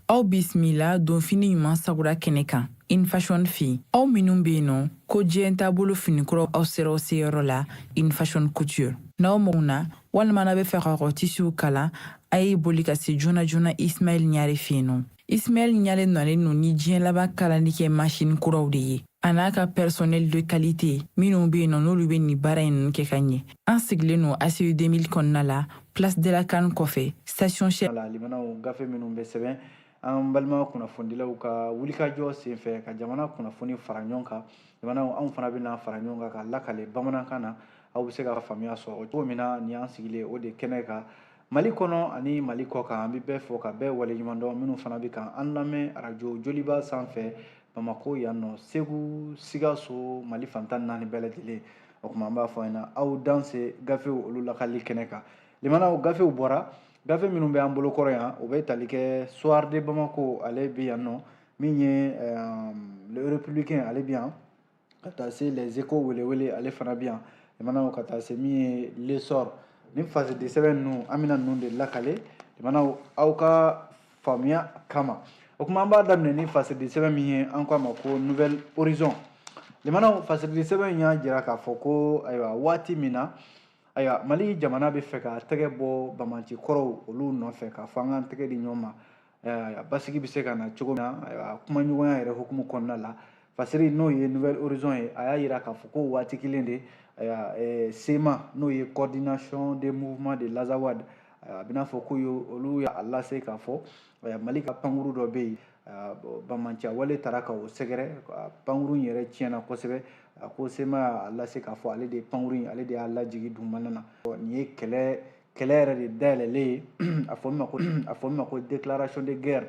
aw bisimila donfini ɲuman sagura kɛnɛ kan in fashion fi aw minnu be yen nɔ ko diɲɛ taabolo finikuraw aw sera aw seyɔrɔ la in fashion couture n'aw mago na walima n'a bɛ fɛ ka kɔtisiw kalan a ye boli ka se joona joona ismaɛl ɲare fɛ yen nɔ ismaɛl ɲare nalen no ni diɲɛ laban kalanni kɛ masini kuraw de ye a n'a ka personnel de qualité minnu bɛ yen nɔ n'olu bɛ nin baara in kɛ ka ɲɛ an sigilen no aci 2000 kɔnɔna la place de la can kɔfɛ station shell lamɛnnaw gafe minnu bɛ sɛbɛn an balima kunnafonidilaw ka wulikajɔ senfɛ ka jamana kunnafoni fara ɲɔgɔn kan lamɛnnaw anw fana bɛna fara ɲɔgɔn kan k'a lakale bamanankan na aw bɛ se ka faamuya sɔrɔ cogo min na nin y'an sigilen o de kɛnɛ kan mali kɔnɔ ani mali kɔ kan an bɛ bɛɛ fo ka bɛɛ waleɲuman dɔn minnu fana bɛ kan an lamɛn arajo joliba sanfɛ bamakɔ yan nɔ segu sikaso mali fan tan naani bɛɛ lajɛlen o tuma an b'a fɔ an ɲɛna aw danse gafew olu lakali kɛnɛ kan lamɛnnaw gafew bɔra gafe minnu bɛ an bolo kɔrɔ yan o bɛ tali kɛ soir de bamako ale bɛ yan nɔ min ye euh, le républicain ale bɛ yan ka taa se les échos welewele ale fana bɛ yan lamɛnnaw ka taa se min ye l'essor ni fasidi sɛbɛn ninnu an bɛna ninnu de lakale lamɛnnaw aw ka faamuya kama o kuma an b'a daminɛ ni fasidi sɛbɛn min ye an ko a ma ko nouvel horizon lamɛnnaw fasidi sɛbɛn in y'a jira k'a fɔ ko ayiwa waati min na ayiwa mali jamana bɛ fɛ ka tɛgɛ bɔ banbaanci kɔrɔw olu nɔfɛ k'a fɔ an k'an tɛgɛ di ɲɔgɔn ma a basigi bɛ se ka na cogo min na ayiwa kumaɲɔgɔnya yɛrɛ hukumu kɔnɔna la fasiri n'o ye nouvel horizon ye a y'a jira k'a fɔ ko waati kelen de ayiwa eh, cma n'o ye coordination des mouvements de l'azawad a bɛn'a fɔ ko olu y'a lase k'a fɔ eh, mali ka pankuru dɔ bɛ yen ah, banbaanciya wale taara ka o sɛgɛrɛ ah, pankuru in yɛrɛ tiɲɛna kosɛbɛ a ko cma y'a lase k'a fɔ ale de ye pankuru in ale de y'a lajigi dugumana na nin ye kɛlɛ kɛlɛ yɛrɛ de dayɛlɛlen ye a fɔ min ma ko déclaration de guerre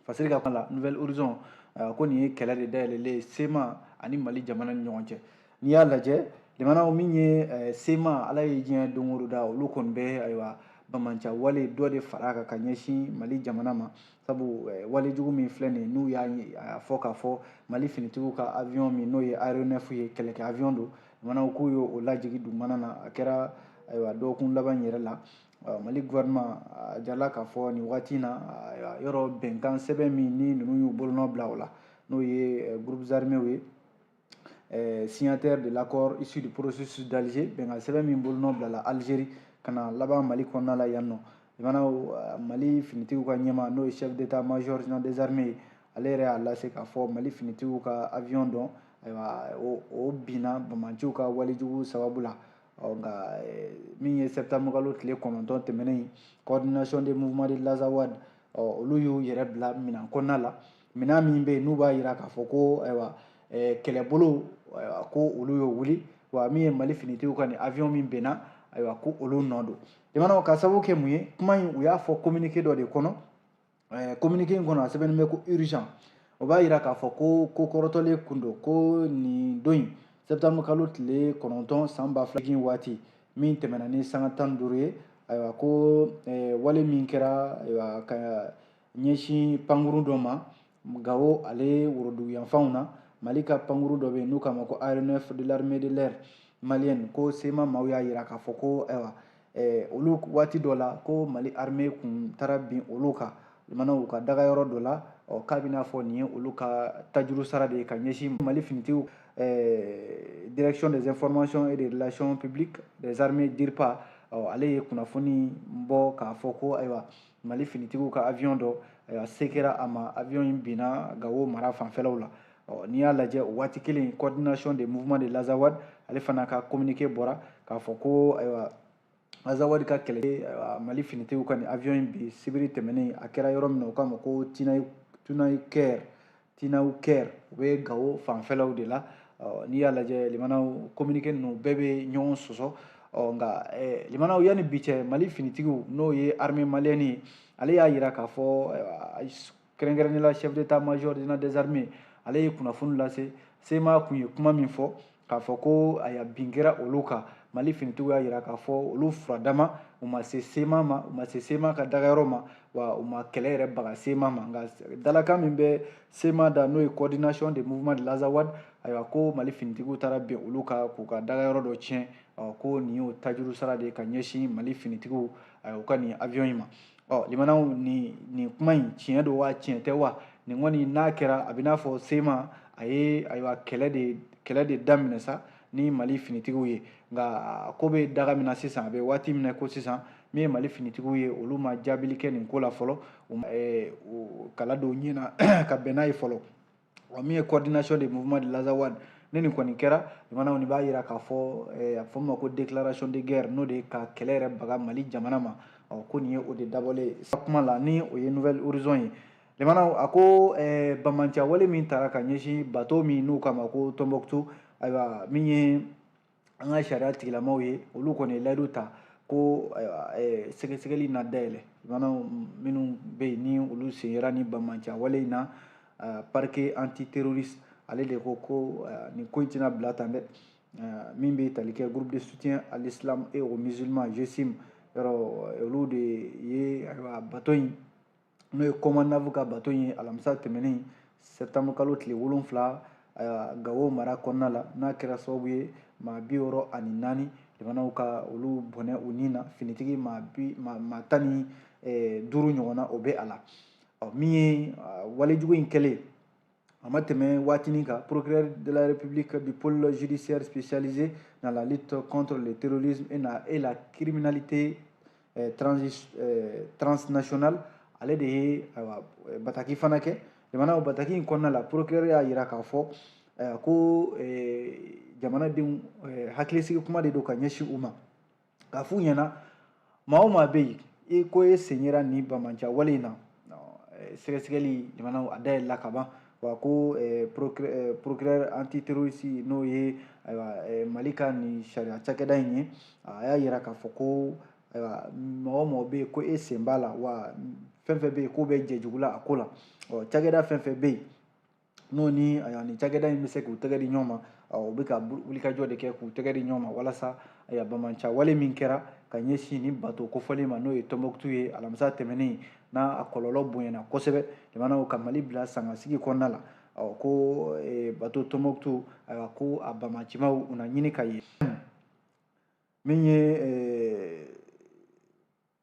fasiri ka kuma la nouvel horizon ah, ko nin ye kɛlɛ de dayɛlɛlen ye cma ani mali jamana ni ɲɔgɔn cɛ n'i y'a lajɛ lamɛnnaw min ye eh, cma ala ye diɲɛ don o don da olu kɔni bɛ ayiwa banbaanciya wale dɔ de fara a kan ka ɲɛsin mali jamana ma sabu eh, wale jugu min filɛ nin n'u y'a fɔ k'a fɔ mali finitigiw ka avion min n'o ye aéronef ye kɛlɛkɛ avion don lamɛnnaw k'u ye o lajigi dugumana na a kɛra ayiwa dɔgɔkun laban yɛrɛ la mali gouvernement a jirala k'a fɔ nin wagati na yɔrɔ bɛnkan sɛbɛn min ni ninnu y'u bolonɔ bila o la n'o ye eh, groupes armés ye eh, signataire de l'accord issu du processus d'Alger bɛnkan sɛbɛn min bolonɔ bilala Algérie ka na laban Mali kɔnɔna la yan nɔ limanaw eh, Mali finitigiw ka ɲɛmaa n'o ye chef d'état major général des armées ye ale yɛrɛ y'a lase k'a fɔ Mali finitigiw ka avion dɔ ayiwa o o binna banbaanciw ka walejugu sababu la ɔ nka eh, min ye septembre kalo tile kɔnɔntɔn tɛmɛnen coordination des mouvements de l'Azawad ɔ olu y'u yɛrɛ bila minan kɔnɔna la minɛn min bɛ yen n'u b'a jira k'a fɔ ko ayiwa kɛlɛbolo ko olu y'o wuli wa min ye mali finitigiw ka nin avion min binna ayiwa ko olu nɔ don limanaw ka sababu kɛ mun ye kuma in u y'a fɔ communiqué dɔ de kɔnɔ communiqué in kɔnɔ a sɛbɛnnen bɛ ko urgent o b'a jira k'a fɔ ko ko kɔrɔtɔlen kun don ko nin don in septembre kalo tile kɔnɔntɔn san ba fila jigin waati min tɛmɛna ni sanga tan ni duuru ye ayiwa ko wale min kɛra ayiwa ka ɲɛsin pankuru dɔ ma gawo ale worodugu yanfanw na mali ka pankuru dɔ bɛ yen n'u k'a ma ko aéronef de l'armée de l'air malienne ko CMA maaw y'a jira k'a fɔ ko ayiwa eh, olu waati dɔ la ko mali armée kun taara bin olu kan limanaw u ka dagayɔrɔ dɔ la ɔ k'a bɛ n'a fɔ nin ye olu ka tajuru sara de ye ka ɲɛsin mali finitigiw eh, direction des informations et des relations publiques des armées dirpa ɔ ale ye kunnafoni bɔ k'a fɔ ko ayiwa mali finitigiw ka avion dɔ ayiwa se kɛra a ma avion in binna gawo mara fanfɛlaw la ɔ n'i y'a lajɛ o waati kelen coordination des mouvements de l'Azawad ale fana ka communiqué bɔra k'a fɔ ko ayiwa azawadi ka kɛlɛ mali finitigiw ka nin avion in bin sibiri tɛmɛnen a kɛra yɔrɔ min na u k'a ma ko Tinaouker Tinaouker o bɛ gawo fanfɛlaw de la n'i y'a lajɛ limanaw communiqué ninnu bɛɛ bɛ ɲɔgɔn sɔsɔ ɔ nka limanaw yanni bi cɛ mali finitigiw n'o ye armée malienne ye ale y'a jira k'a fɔ kɛrɛnkɛrɛnnenya la chef d'état major général des armées ale ye kunnafoni lase CMA kun ye kuma min fɔ k'a fɔ ko ayiwa bin kɛra olu kan mali finitigiw y'a jira k'a fɔ olu furadama u ma se CMA ma u ma se CMA ka dagayɔrɔ ma wa u ma kɛlɛ yɛrɛ baga CMA ma nka dalakan min bɛ CMA da n'o ye coordination des mouvements de l'Azawad ayiwa ko mali finitigiw taara bin olu kan k'u ka dagayɔrɔ dɔ tiɲɛ ko nin y'o tajuru sara de ye ka ɲɛsin mali finitigiw u ka nin avion in ma ɔ limanaw nin nin kuma in tiɲɛ don wa tiɲɛ tɛ wa nin kɔni n'a kɛra a bɛ n'a fɔ CMA a ye ayiwa kɛlɛ de kɛlɛ de daminɛ sa ni mali finitigiw ye nka ko bɛ daga min na sisan a bɛ waati min na ko sisan min ye mali finitigiw ye olu ma jaabili kɛ nin ko la fɔlɔ kala don ɲɛ na ka bɛn n'a ye fɔlɔ wa min ye coordination des mouvements de l'Azawad ni nin kɔni kɛra limanaw nin b'a yira k'a fɔ eh, a fɔ min ma ko déclaration de guerre n'o de ye ka kɛlɛ yɛrɛ baga mali jamana ma ɔ ko nin ye o de dabɔlen ye kuma la ni o ye Nouvel Horizon ye limanaw a ko eh, bamanciya wale min tara ka ɲɛsin bato min n'u k'a ma ko tombouctou ayiwa min ye an ka sariya tigilamaw ye olu kɔni ye layidu ta ko eh, sɛgɛsɛgɛli na dayɛlɛ limanaw minnu bɛ yen ni olu sen yera ni bamanciya wale in na eh, parquet antiterroriste ale de ko ko eh, nin ko in tɛna bila tan dɛ min bɛ tali kɛ groupe de soutien à l'islam et aux musulmans GSIM yɔrɔ olu de ye ayiwa bato in n'o ye COMANAF ka bato ye alamisa tɛmɛnen sɛtanburu kalo tile wolonfila gawo mara kɔnɔna la n'a kɛra sababu ye maa bi wɔɔrɔ ani naani limanaw ka olu bɔnɛ u ni na finitigi maa tan ni duuru ɲɔgɔnna o bɛ a la min ye walejugu in kɛlen A ma tɛmɛ waatinin kan procureur de la République du pôle judiciaire spécialisé dans la lutte contre le terrorisme et la, et la criminalité eh, trans, eh, transnationale ale de ye ayiwa eh, bataki fana kɛ jamana o bataki in kɔnɔna la procureur y'a yira k'a fɔ eh, ko eh, jamanadenw eh, hakilisigi kuma de don ka ɲɛsin u ma k'a f'u ɲɛna maa o maa bɛ yen ko e sen yera nin bamanciya wale in na eh, sɛgɛsɛgɛli limanaw a dayɛlɛla ka ban wa ko eh, eh, procureur antiterroriste n'o ye ayiwa mali ka nin sariya cakɛda in ye a y'a yira k'a fɔ ko ayiwa mɔgɔ o mɔgɔ bɛ yen ko e sen b'a la wa fɛn fɛn bɛ yen k'o bɛ jɛ jugu la a ko la ɔ cakɛda fɛn fɛn bɛ yen n'o ni yani cakɛda in bɛ se k'u tɛgɛ di ɲɔgɔn ma u bɛ ka wulikajɔ de kɛ k'u tɛgɛ di ɲɔgɔn ma walasa bamanciya wale min kɛra ka ɲɛsin ni bato kofɔlen ma n'o ye tɔnbɔkutu ye alamisa tɛmɛnen n'a a kɔlɔlɔ bonyana kosɛbɛ jamanaw ka mali bila sangasigi kɔnɔna la ko bato tɔnbɔkutu ko a bamancimaw u na ɲini ka ye min ye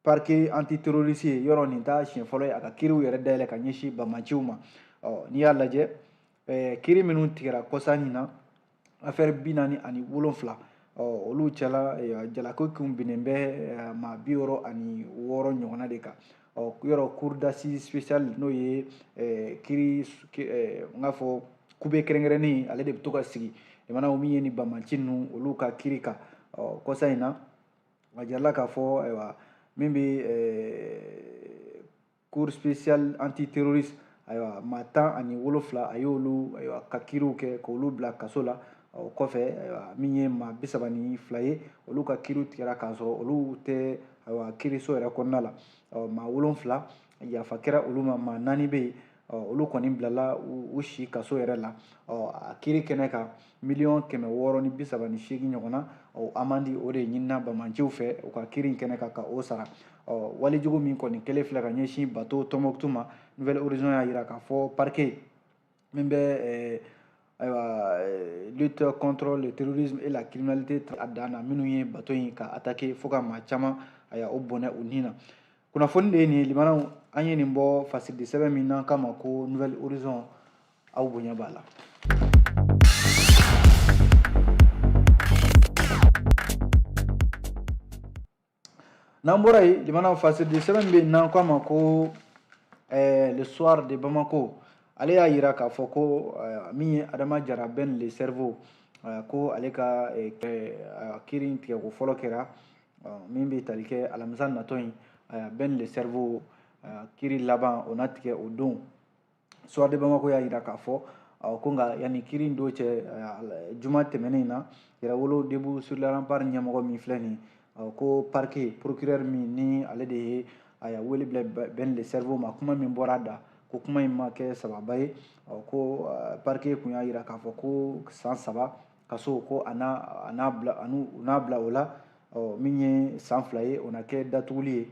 parquet antiterroriste ye yɔrɔ nin t'a siɲɛ fɔlɔ ye a ka kiriw yɛrɛ dayɛlɛ ka ɲɛsin bamaciw ma n'i y'a lajɛ eh, kiri minnu tigɛra kɔsa nin na afɛri bi naani ani wolonfila olu cɛla eh, jalaki kun binnen bɛ eh, maa bi wɔɔrɔ ani wɔɔrɔ ɲɔgɔnna de kan yɔrɔ cour d'assises spéciale n'o ye kiri n k'a fɔ kube kɛrɛnkɛrɛnnen ale de bɛ to ka sigi jamanaw min ye ni bamaci ninnu olu ka kiri kan kɔsa in na a jirala k'a fɔ ayiwa min bɛ cour spéciale antiterroriste ayiwa maa tan ani wolonfila a y'olu ayiwa ka kiriw kɛ k'olu bila kaso la o kɔfɛ ayiwa min ye maa bi saba ni fila ye olu ka kiriw tigɛra k'a sɔrɔ olu tɛ ayiwa kiriso yɛrɛ kɔnɔna la ɔ maa wolonfila yafa kɛra olu ma maa naani bɛ yen olu kɔni bilala u si kaso yɛrɛ la a kiri kɛnɛ kan miliyɔn kɛmɛ wɔɔrɔ ni bi saba ni seegin ɲɔgɔn na amandi o de ɲinina banbaanciw fɛ u ka kiri kɛnɛ kan ka o sara walejugu min kɔni kɛlen filɛ ka ɲɛsin bato tombouctou ma nouvel horizon y'a jira k'a fɔ parquet min bɛ eh, ayiwa eh, lutte contre le terrorisme et la criminalité a dan na minnu ye bato in ka attaquer fo ka maa caman ayiwa o bɔnɛ u ni na kunnafoni de ye nin ye limanaw an ye nin bɔ fasiridi sɛbɛn min n'an k'a ma ko nouvel horizon aw bonya b'a la n'an bɔra yen limanaw fasiridi sɛbɛn bɛ yen n'an k'a ma ko eh, le soir de bamako ale y'a jira k'a fɔ ko eh, min ye adama jara ben le cerveau eh, ko ale ka kiri in tigɛko fɔlɔ kɛra min bɛ tali kɛ alamisa natɔ in ben le cerveau kiri laban o na tigɛ o don Soir de Bamako y'a jira k'a fɔ ko nka yanni kiri in don cɛ juma tɛmɛnen in na Yɛrɛwolo Debout sur les remparts ɲɛmɔgɔ min filɛ nin ye ko parquet procureur min ni ale de ye ayiwa wele bila Ben le cerveau ma kuma min bɔra a da ko kuma in ma kɛ sababu ye ko parquet kun y'a jira k'a fɔ ko san saba kaso ko u n'a bila o la min ye san fila ye o na kɛ datuguli ye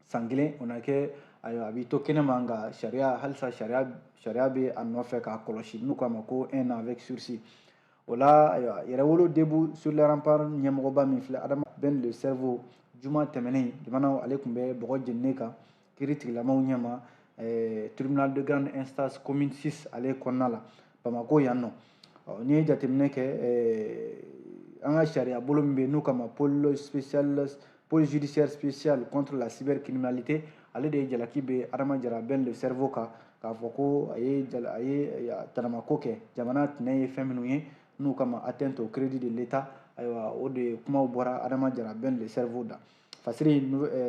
san kelen o na kɛ ayiwa a bɛ to kɛnɛma nka sariya halisa sariya bɛ a nɔfɛ k'a kɔlɔsi n'u k'a ma ko un an avec sursis o la ayiwa yɛrɛwolo debout sur les remparts ɲɛmɔgɔba min filɛ adama ben le cerveau juma tɛmɛnen jamanaw ale tun bɛ bɔgɔ jeninen kan kiri tigilamaw ɲɛma eh, tribunal de grande instance commune 6 ale kɔnɔna la bamakɔ yan nɔ n'i ye jateminɛ kɛ an ka sariya bolo min bɛ yen n'u k'a ma pôle spécial pôle judiciaire spécial contre la cybercriminalité ale de ye jalaki bin adama jara ben le cerveau kan k'a fɔ ko a ye jala a ye tanamako kɛ jamana tɛnɛ ye fɛn minnu ye n'u k'a ma atteinte au crédit de l'état ayiwa o de ye kumaw bɔra adama jara ben le cerveau da fasiri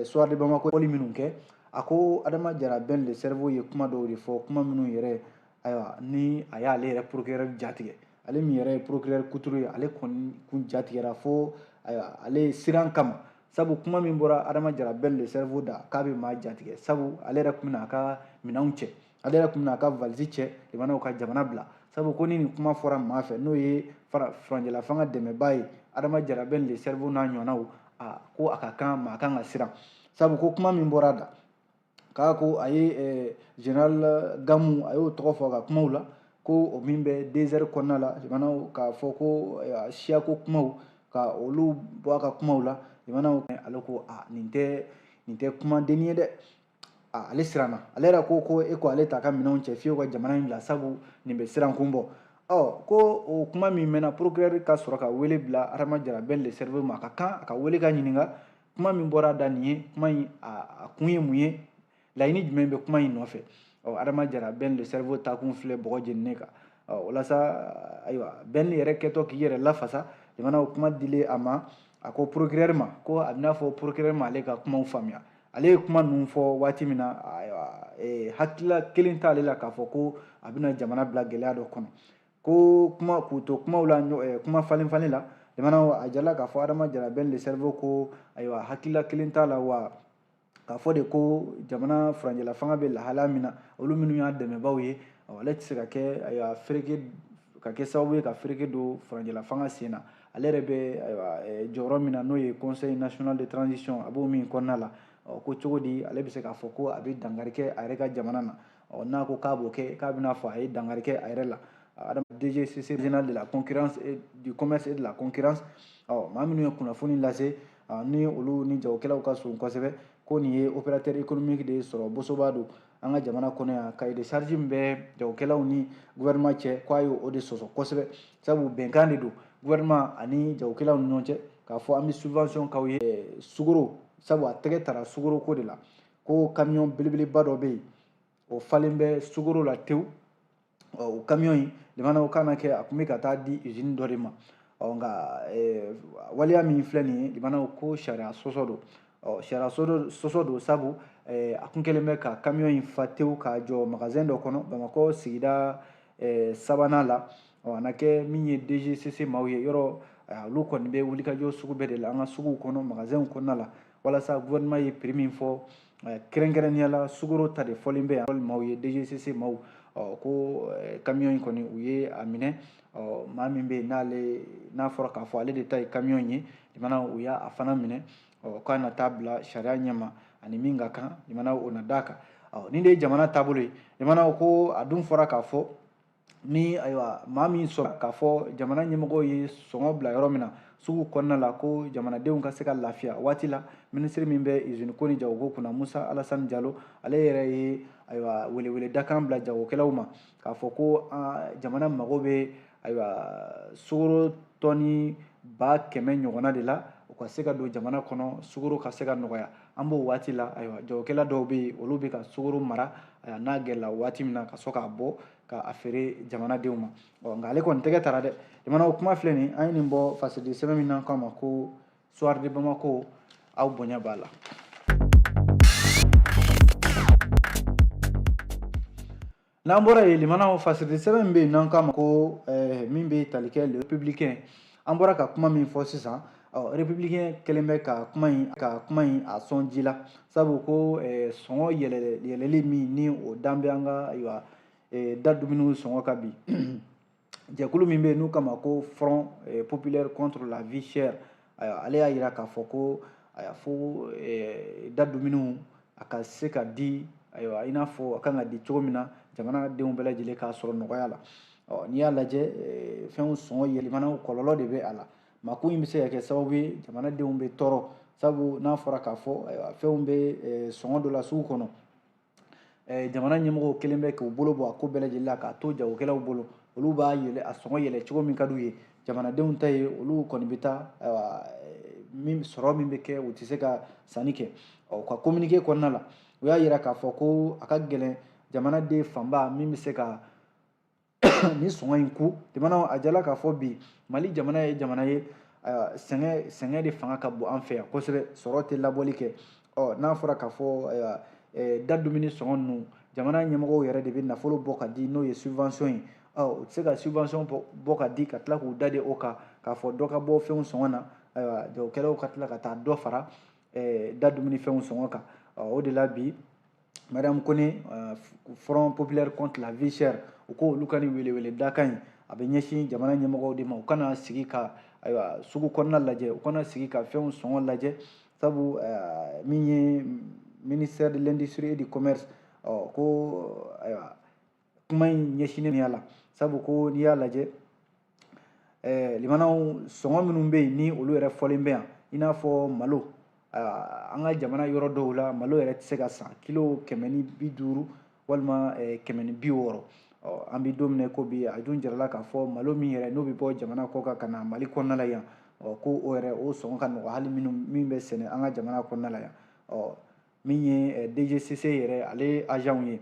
soir de bamako wali minnu kɛ a ko adama jara ben le cerveau ye kuma dɔw de fɔ kuma minnu yɛrɛ ayiwa ni a y'ale yɛrɛ procureur jatigɛ ale min yɛrɛ ye procureur kuturu ye ale kɔni kun jatigɛra fo ayiwa ale siran kama sabu kuma min bɔra adama jara ben le cerveau da k'a bɛ maa jatigɛ sabu ale yɛrɛ tun bɛna a ka minɛnw cɛ ale yɛrɛ tun bɛna a ka valise cɛ limanaw ka jamana bila sabu ko ni nin kuma fɔra maa fɛ n'o ye furancɛla fanga dɛmɛbaa ye adama jara ben le cerveau n'a ɲɔgɔnnaw a ko a ka kan maa kan ka siran sabu ko kuma min bɔra a da k'a ko a ye eh, général gamu a y'o tɔgɔ fɔ a ka kumaw la ko o min bɛ desɛri kɔnɔna la limanaw k'a fɔ ko eh, siyako kumaw ka olu bɔ a ka kumaw la limanaw ale ko a nin tɛ nin tɛ kuma denni ye dɛ ale siranna ale yɛrɛ ko ko e ko ale t'a ka minɛnw cɛ fiyewu ka jamana in bila sabu nin bɛ siran kun bɔ ɔ ko o kuma min mɛnna procureur ka sɔrɔ ka wele bila adama jara ben le cerveau ma a ka kan a ka wele ka ɲininka kuma min bɔra a da nin ye kuma in a kun ye mun ye laɲini jumɛn bɛ kuma in nɔfɛ ɔ adama jara ben le cerveau taakun filɛ bɔgɔ jeninen kan ɔ walasa ayiwa ben yɛrɛ kɛtɔ k'i yɛrɛ lafasa limanaw kuma dilen a ma a ko procureur ma ko a bɛna fɔ procureur ma ale ka kumaw faamuya ale ye kuma ninnu fɔ waati min na ayiwa hakilila kelen t'ale la k'a fɔ ko a bɛna jamana bila gɛlɛya dɔ kɔnɔ ko kuma k'u to kumaw la eh, kuma falen falen la limanaw a jirala k'a fɔ adama jara ben le cerveau ko ayiwa hakilila kelen t'a la wa k'a fɔ de ko jamana furancɛla fanga bɛ lahalaya min na olu minnu y'a dɛmɛbaaw ye ale tɛ se ka kɛ ayiwa fereke ka kɛ sababu ye ka fereke don furancɛla fanga sen na ale yɛrɛ bɛ ayiwa eh, jɔyɔrɔ min na n'o ye conseil national de transition a b'o min kɔnɔna la ko cogo di ale bɛ se k'a fɔ ko a bɛ dankari kɛ a yɛrɛ ka jamana na ɔ n'a ko k'a b'o kɛ k'a bɛna fɔ a ye dankari kɛ a yɛrɛ la DGCC général de la concurrence et du commerce et de la concurrence ɔ maa minnu ye kunnafoni lase ni olu ni jagokɛlaw ka surun kosɛbɛ ko nin ye opérateur économique de ye sɔrɔ bosoba don an ka jamana kɔnɔ yan cahier de charge min bɛ jagokɛlaw ni gouvernement cɛ k'a ye o de sɔsɔ kosɛbɛ sabu bɛnkan de don gouvernement ani jagokɛlaw ni ɲɔgɔn cɛ k'a fɔ an bɛ subvention k'aw ye sukoro sabu a tɛgɛ tara sukoroko de la ko kamiyɔn belebeleba dɔ bɛ yen o falen bɛ sukoro la tewu ɔ o kamiyɔn in limanaw kan na kɛ a tun bɛ ka taa di izini dɔ de ma ɔ nka waleya min filɛ nin ye limanaw ko sariya sɔsɔ don ɔ sariya sɔsɔ don sabu a kun kɛlen bɛ ka kamiyɔn in fa tewu k'a jɔ magazɛn dɔ kɔnɔ bamakɔ sigida sabanan la ɔ a na kɛ min ye dgcc maaw ye yɔrɔ olu kɔni bɛ wulikajɔ sugu bɛɛ de la an ka suguw kɔnɔ magazɛnw kɔnɔna la walasa gouvernement ye prix min fɔ eh, kɛrɛnkɛrɛnnenya la sukoro ta de fɔlen bɛ yan maaw ye dgcc maaw ɔ ko eh, camion in kɔni u ye a minɛ ɔ maa min bɛ yen n'ale n'a fɔra k'a fɔ ale de ta ye camion ye limanaw u y'a fana minɛ ɔ k'a na taa bila sariya ɲɛma ani min ka kan limanaw o na d'a kan ɔ nin de ye jamana taabolo ye limanaw ko a dun fɔra k'a fɔ ni ayiwa maa min sɔrɔ k'a fɔ jamana ɲɛmɔgɔw ye sɔngɔ bila yɔrɔ min na sugu kɔnɔna la ko jamanadenw ka se ka lafiya waati la minisiri min bɛ izini ko ni jagoko kunna musa alasani jalo ale yɛrɛ ye ayiwa welewele dakan bila jagokɛlaw ma k'a fɔ ko jamana mago bɛ ayiwa sukoro tɔni ba kɛmɛ ɲɔgɔnna de la u ka se ka don jamana kɔnɔ sukoro ka se ka nɔgɔya an b'o waati la ayiwa jagokɛla dɔw bɛ yen olu bɛ ka sukoro mara ayiwa n'a gɛlɛla waati min na ka sɔrɔ k'a bɔ ka a feere jamanadenw ma ɔ nka ale kɔni tɛgɛ tara dɛ jamana o kuma filɛ nin an ye nin bɔ fasiri sɛbɛn min n'an k'a ma ko soir de bamako aw bonya b'a la N'an bɔra yen limanaw fasiri sɛbɛn min bɛ yen n'an k'a ma ko eh, min bɛ tali kɛ le républicain an bɔra ka kuma min fɔ sisan ɔ républicain kɛlen bɛ ka kuma in ka kuma in a sɔn ji la sabu ko eh, sɔngɔ yɛlɛ yɛlɛli min ni o dan bɛ an ka ayiwa eh, da dumuniw sɔngɔ kan bi jɛkulu min bɛ yen n'u k'a ma ko front eh, populaire contre la vie chère ayiwa ale y'a jira k'a fɔ ko ayiwa fo eh, da dumuniw a ka se ka di ayiwa i n'a fɔ a kan ka di cogo min na jamanadenw bɛɛ lajɛlen k'a sɔrɔ nɔgɔya la ɔ n'i y'a lajɛ eh, fɛnw sɔngɔ yɛlɛmanaw kɔlɔlɔ de bɛ a la mako in bɛ se ka kɛ sababu ye jamanadenw bɛ tɔɔrɔ sabu n'a fɔra k'a fɔ ayiwa fɛnw bɛ sɔngɔ dɔ la sugu kɔnɔ eh, jamana ɲɛmɔgɔw kɛlen bɛ k'u bolo bɔ a ko bɛɛ lajɛlen la k'a to jagokɛlaw bolo olu b'a yɛlɛ a sɔngɔ yɛlɛ cogo min ka d'u ye jamanadenw ta ye olu kɔni bɛ taa eh, min sɔrɔ min bɛ kɛ u tɛ se ka sanni kɛ u ka communiqué kɔnɔna la u y'a yira k'a fɔ ko a ka gɛlɛn jamanaden fanba min bɛ se ka nin sɔngɔ in kun jamana a jala k'a fɔ bi mali jamana ye jamana ye sɛgɛn sɛgɛn de fanga ka bon an fɛ yan kosɛbɛ sɔrɔ tɛ labɔli kɛ ɔ n'a fɔra k'a fɔ da dumuni sɔngɔ ninnu jamana ɲɛmɔgɔw yɛrɛ de bɛ nafolo bɔ ka di n'o ye subvention ye ɔ u tɛ se ka subvention bɔ ka di ka tila k'u da de o kan k'a fɔ dɔ ka bɔ fɛnw sɔngɔ na ayiwa jagokɛlaw ka tila ka taa dɔ fara da dumuni fɛnw sɔngɔ kan o de la bi mariam kone euh, front populaire contre la vie chère u ko olu ka nin welewele dakan in a bɛ ɲɛsin jamana ɲɛmɔgɔw de ma u kana sigi ka ayiwa sugu kɔnɔna lajɛ u kana sigi ka fɛnw sɔngɔ lajɛ sabu euh, min ye ministère de l'industrie et du commerce ɔ ko ayiwa kuma in ɲɛsinnen bɛ a la sabu ko n'i y'a lajɛ ɛɛ limanaw sɔngɔ minnu bɛ yen ni olu yɛrɛ fɔlen bɛ yan i n'a fɔ malo an ka jamana yɔrɔ dɔw la malo yɛrɛ tɛ se ka san kilo kɛmɛ ni bi duuru walima kɛmɛ ni bi wɔɔrɔ an bɛ don min ko bi a dun jirala k'a fɔ malo min yɛrɛ n'o bɛ bɔ jamana kɔ kan ka na mali kɔnɔna la yan ɔ ko o yɛrɛ o sɔngɔ ka nɔgɔ hali minnu min bɛ sɛnɛ an ka jamana kɔnɔna la yan ɔ min ye dgcc yɛrɛ ale azanw ye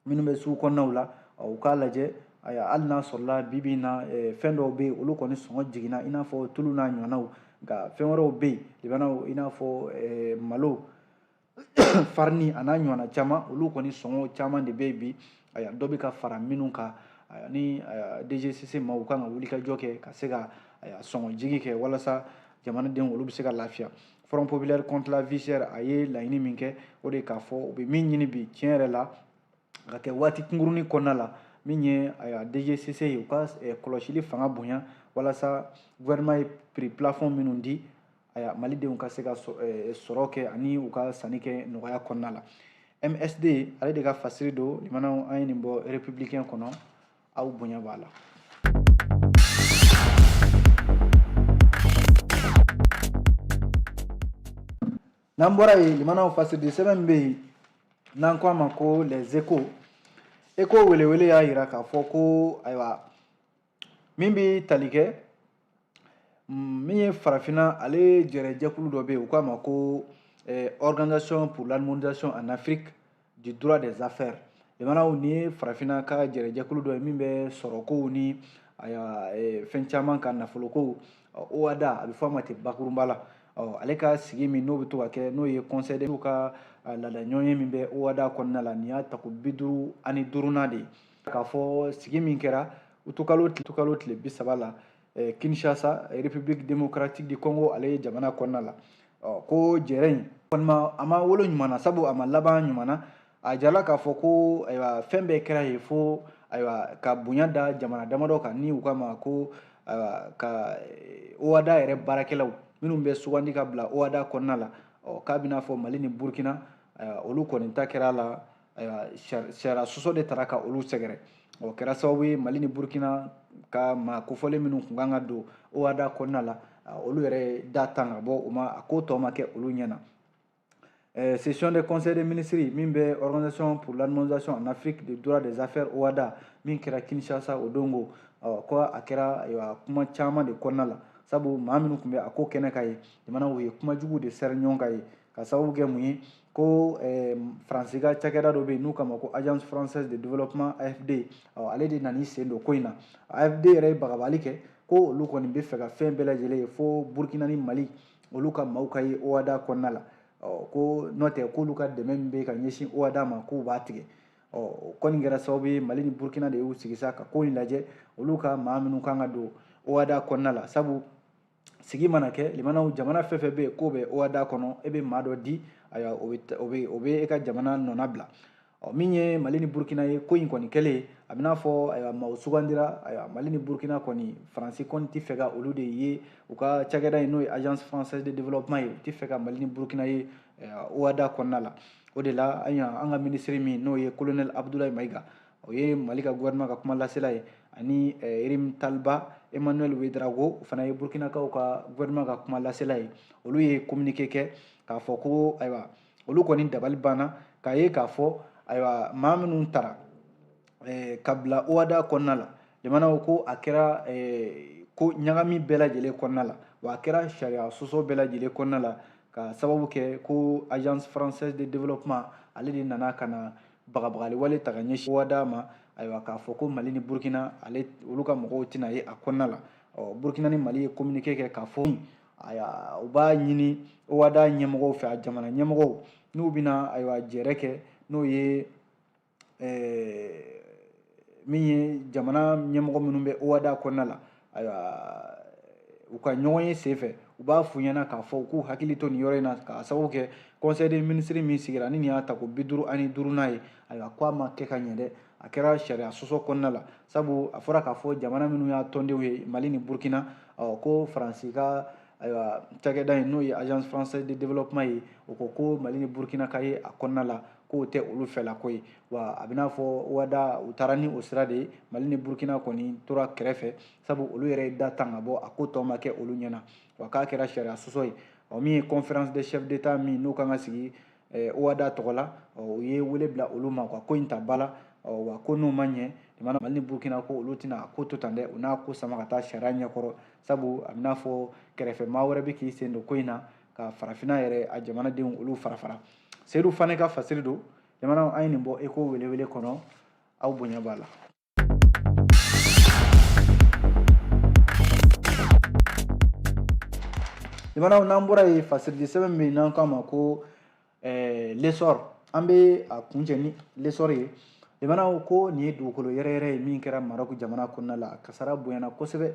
minnu bɛ sugu kɔnɔnaw la u k'a lajɛ ayiwa hali n'a sɔrɔla bi bi in na fɛn dɔw bɛ yen olu kɔni sɔngɔ jiginna i n'a fɔ tulu n'a ɲɔgɔnnaw nka fɛn wɛrɛw bɛ yen limanaw i n'a fɔ malo farini a n'a ɲɔgɔnna caman olu kɔni sɔngɔ caman de bɛ yen bi ayiwa dɔ bɛ ka fara minnu kan ni dgcc ma u kan ka wulikajɔ kɛ ka se ka sɔngɔ jigi kɛ walasa jamanadenw olu bɛ se ka lafiya front populaire contre la vie chère a ye laɲini min kɛ o de k'a fɔ u bɛ min ɲini bi tiɲɛ yɛrɛ la ka kɛ waati kunkurunin kɔnɔna la min ye ayiwa dgcc ye u ka eh, kɔlɔsili fanga bonya walasa gouvernement ye prix plafond minnu di ayiwa malidenw ka se ka eh, sɔrɔ kɛ ani u ka sanni kɛ nɔgɔya kɔnɔna la msd ale de ka fasiri don limanaw an ye nin bɔ républicain kɔnɔ aw bonya b'a la n'an bɔra yen limanaw fasiri di sɛbɛn min bɛ yen n'an ko a ma ko les échos échos welewele y'a yira k'a fɔ ko ayiwa min bɛ tali kɛ mm, min ye farafinna ale jɛrɛjɛkulu dɔ bɛ yen u k'a ma ko eh, organisation pour l'harmonisation en afrique du droit des affaires limanaw nin ye farafinna ka jɛrɛjɛkulu dɔ ye min bɛ sɔrɔkow ni eh, fɛn caman ka nafolokow ohada a bɛ fɔ a ma ten bakurunba la ɔ ale ka sigi min n'o bɛ to ka kɛ n'o ye conseil de ka laadaɲɔgɔnye min bɛ ohada kɔnɔna la nin y'a tako bi duuru ani duurunan de ye k'a fɔ sigi min kɛra utukalo tile bi saba la eh, kinshasa république démocratique du congo ale ye jamana kɔnɔna la oh, ko jɛrɛ in kɔni ma a ma wolo ɲuman na sabu a ma laban ɲuman na a jala k'a fɔ ko ayiwa fɛn bɛɛ kɛra yen fo ayiwa ka bonya da jamana damadɔ kan ni u k'a ma ko ayiwa ka eh, ohada yɛrɛ baarakɛlaw minnu bɛ sugandi ka bila ohada kɔnɔna la ɔ k'a bɛ n'a fɔ mali ni burkina ayiwa olu kɔni ta kɛra a la ayiwa sariya sɔsɔ de taara ka olu sɛgɛrɛ o kɛra sababu ye mali ni burkina ka maa kofɔlen minnu tun kan ka don ohada kɔnɔna la olu yɛrɛ da tan ka bɔ u ma a ko tɔ ma kɛ olu ɲɛ na session du conseil des ministres min bɛ organisation pour l'harmonisation en afrique du droit des affaires ohada min kɛra kinshasa o don ko ko a kɛra ayiwa kuma caman de kɔnɔna la sabu maa minnu tun bɛ a ko kɛnɛ kan yen jamanaw ye kuma jugu de sɛri ɲɔgɔn kan yen ka sababu kɛ mun ye ko eh, faransi ka cakɛda dɔ bɛ yen n'u k'a ma ko agence française de développement afd ale de nana i sen don ko in na afd yɛrɛ ye bagabali kɛ ko olu kɔni bɛ fɛ ka fɛn bɛɛ lajɛlen ye fo burkina ni mali olu ka maaw ka ye ohada kɔnɔna la ko n'o tɛ k'olu ka dɛmɛ min bɛ ka ɲɛsin ohada ma k'u b'a tigɛ o kɔni kɛra sababu ye mali ni burkina de y'u sigi sa ka ko in lajɛ olu ka maa minnu kan ka don ohada kɔnɔna la sabu sigi mana kɛ limanaw jamana fɛn fɛn bɛ yen k'o bɛ ohada kɔnɔ e bɛ maa dɔ di ayiwa o bɛ o bɛ o bɛ e ka jamana nɔna bila ɔ min ye mali ni burukina ye ko in kɔni kɛlen a bɛ n'a fɔ ayiwa maaw sugandira ayiwa mali ni burukina kɔni faransi kɔni tɛ fɛ ka olu de ye u ka cakɛda in n'o ye agence française de développement ye u tɛ fɛ ka mali ni burukina ye ohada kɔnɔna la o de la an ka minisiri min n'o ye colonel abudulayi mayiga o ye mali ka gouvernement ka kuma lasela ye ani eh, rimtalba emmanuel ouédraogo o fana ye burkinakaw ka gouvernement ka kuma lasela ye olu ye communiqué kɛ k'a fɔ ko ayiwa olu kɔni dabali banna k'a ye k'a fɔ ayiwa maa minnu tara eh, ka bila ohada kɔnɔna la jamanaw ko a kɛra eh, ko ɲagami bɛɛ lajɛlen kɔnɔna la wa a kɛra sariya sɔsɔ bɛɛ lajɛlen kɔnɔna la ka sababu kɛ ko agence française de développement ale de nana ka na bagabagali wale ta ka ɲɛsin ohada ma ayiwa k'a fɔ ko mali ni burkina olu ka mɔgɔw tɛna ye a kɔnɔna la ɔ burkina ni mali ye communiqué kɛ k'a fɔ ayiwa u b'a ɲini ohada ɲɛmɔgɔw fɛ a jamana ɲɛmɔgɔw n'u bɛna ayiwa jɛrɛ kɛ n'o ye ɛɛ min ye jamana ɲɛmɔgɔ minnu bɛ ohada kɔnɔna la ayiwa u ka ɲɔgɔnye senfɛ u b'a f'u ɲɛna k'a fɔ u k'u hakili to nin yɔrɔ in na k'a sababu kɛ conseil des ministres min sigira ni nin y'a ta ko bi duuru ani duurunan ye ayiwa k'a ma kɛ ka ɲɛ dɛ a kɛra sariya sɔsɔ kɔnɔna la sabu a fɔra k'a fɔ jamana minnu y'a tɔndenw ye mali ni burkina ɔ ko faransi ka ayiwa cakɛda in n'o ye agence française de développement ye o ko ko mali ni burkina ka ye a kɔnɔna la k'o tɛ olu fɛla ko ye wa a bɛ n'a fɔ ohada u taara ni o sira de ye mali ni burukina kɔni tora kɛrɛfɛ sabu olu yɛrɛ ye da tan ka bɔ a ko tɔ ma kɛ olu ɲɛna wa k'a kɛra sariya sɔsɔ ye ɔ min ye conférence des chefs d'état min n'o kan ka sigi eh, ohada tɔgɔ la u ye wele bila olu ma ka ko in ta ba la wa ko n'o ma ɲɛ jamana mali ni burukina ko olu tɛna a ko to tan dɛ u n'a ko sama ka taa sariya ɲɛkɔrɔ sabu a bɛ n'a fɔ kɛrɛfɛ maa wɛrɛ bɛ k'i sen don ko in na ka farafina yɛrɛ a jamanadenw olu fara fara seyidu fane ka fasiri don jamanaw an ye nin bɔ eko welewele kɔnɔ aw bonya b'a la jamanaw n'an bɔra yen fasirili sɛbɛn min n'an k'a ma ko eh, l'essor an bɛ a kuncɛ ni l'essor ye jamanaw ko nin ye dugukolo yɛrɛyɛrɛ ye min kɛra maroc jamana kɔnɔna la kasara bonyana kosɛbɛ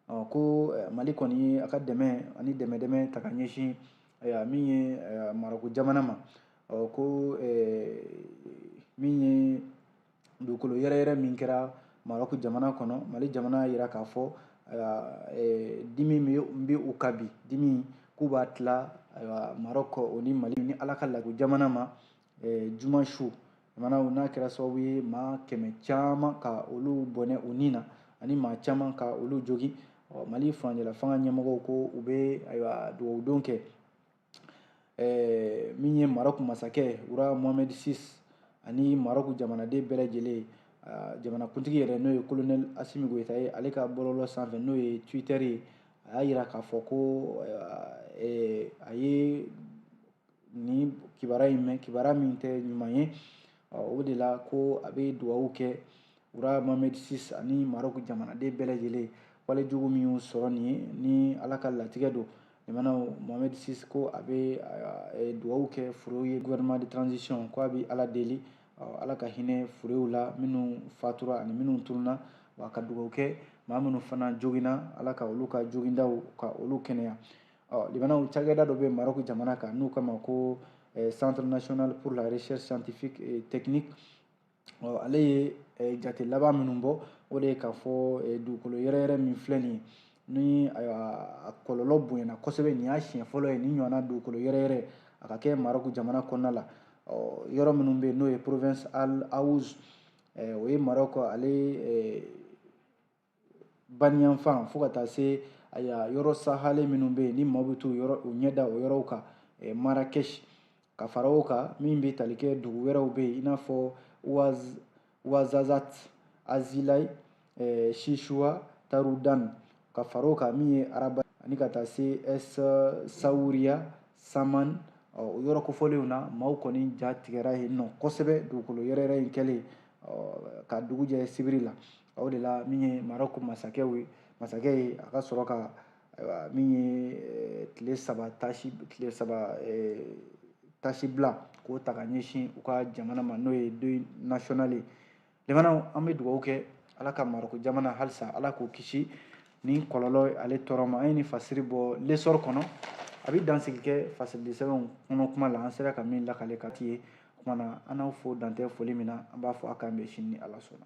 ɔ ko eh, mali kɔni ye a ka dɛmɛ ani dɛmɛ dɛmɛ ta ka ɲɛsin eh, min ye eh, maroc jamana ma ɔ ko min ye dugukolo yɛrɛyɛrɛ min kɛra maroc jamana kɔnɔ mali jamana y'a jira k'a fɔ dimi min bɛ u kan bi dimi k'u b'a tila maroc o ni mali ni ala ka lago jamana ma juma su jamanaw n'a kɛra sababu ye maa kɛmɛ caman ka olu bɔnɛ u ni na ani maa caman ka olu jogin mali furancɛla fanga ɲɛmɔgɔw ko u bɛ ayiwa dugawudon kɛ min ye maroc masakɛ roi mohamed six ani maroc jamanaden bɛɛ lajɛlen jamanakuntigi yɛrɛ n'o ye colonel assimi goïta ye ale ka bɔlɔlɔ sanfɛ n'o ye twitter ye a y'a jira k'a fɔ ko a ye nin kibaruya in mɛn kibaruya min tɛ ɲuman ye o de la ko a bɛ dugawu kɛ roi mohamed six ani marɔku jamanaden bɛɛ lajɛlen wale jugu min y'u sɔrɔ nin ye ni ala ka latigɛ don jamanaw mohamed six ko a bɛ dugawu kɛ furew ye gouvernement de transition ko a bɛ ala deli ala ka hinɛ furew la minnu fatura ani minnu tununna wa ka dugawu kɛ maa minnu fana joginna ala ka olu ka jogindaw ka olu kɛnɛya ɔ jamanaw cakɛda dɔ bɛ marɔku jamana kan n'u k'a ma ko eh, centre national pour la recherche scientifique et technique ɔ ale ye eh, jate laban minnu bɔ o de ye k'a fɔ eh, dugukolo yɛrɛyɛrɛ min filɛ nin ye ni a kɔlɔlɔ bonyana kosɛbɛ nin y'a siɲɛ fɔlɔ ye nin ɲɔgɔnna dugukolo yɛrɛyɛrɛ a ka kɛ marɔku jamana kɔnɔna la yɔrɔ minnu bɛ yen n'o ye province al haouz o ye marɔku ale baniyanfan fo ka taa se aya yɔrɔ sahalen minnu bɛ yen ni maaw bɛ t'u yɔrɔ u ɲɛ da o yɔrɔw kan eh, marakɛsi ka fara o kan min bɛ tali kɛ dugu wɛrɛw bɛ yen i n'a fɔ waz wazazat azilai eh, shishuwa tarudan ka fara o kan min ye raba ani ka taa se es sawuriya saman ɔ, o yɔrɔ kofɔlenw na maaw kɔni ja tigɛra yen nɔ kosɛbɛ dugukolo yɛrɛyɛrɛ in kɛlen ɔ, ka dugu jɛ sibiri la o de la min ye marɔku masakɛ ye masakɛ ye a ka sɔrɔ ka min ye eh, tile saba taasi tile saba eh, taasi bila k'o ta ka ɲɛsin u ka jamana ma n'o ye deuil national ye jamanaw an bɛ dugawu kɛ ala ka marɔku jamana halisa ala k'o kisi nin kɔlɔlɔ ale tɔɔrɔ ma an ye nin fasiri bɔ l'essor kɔnɔ a bɛ dansigi kɛ fasirili sɛbɛnw kɔnɔ kuma la an sera ka min lakale ka ye O kuma na an n'aw fo dan tɛ foli min na an b'a fɔ a k'an bɛn sini ni Ala sɔnna.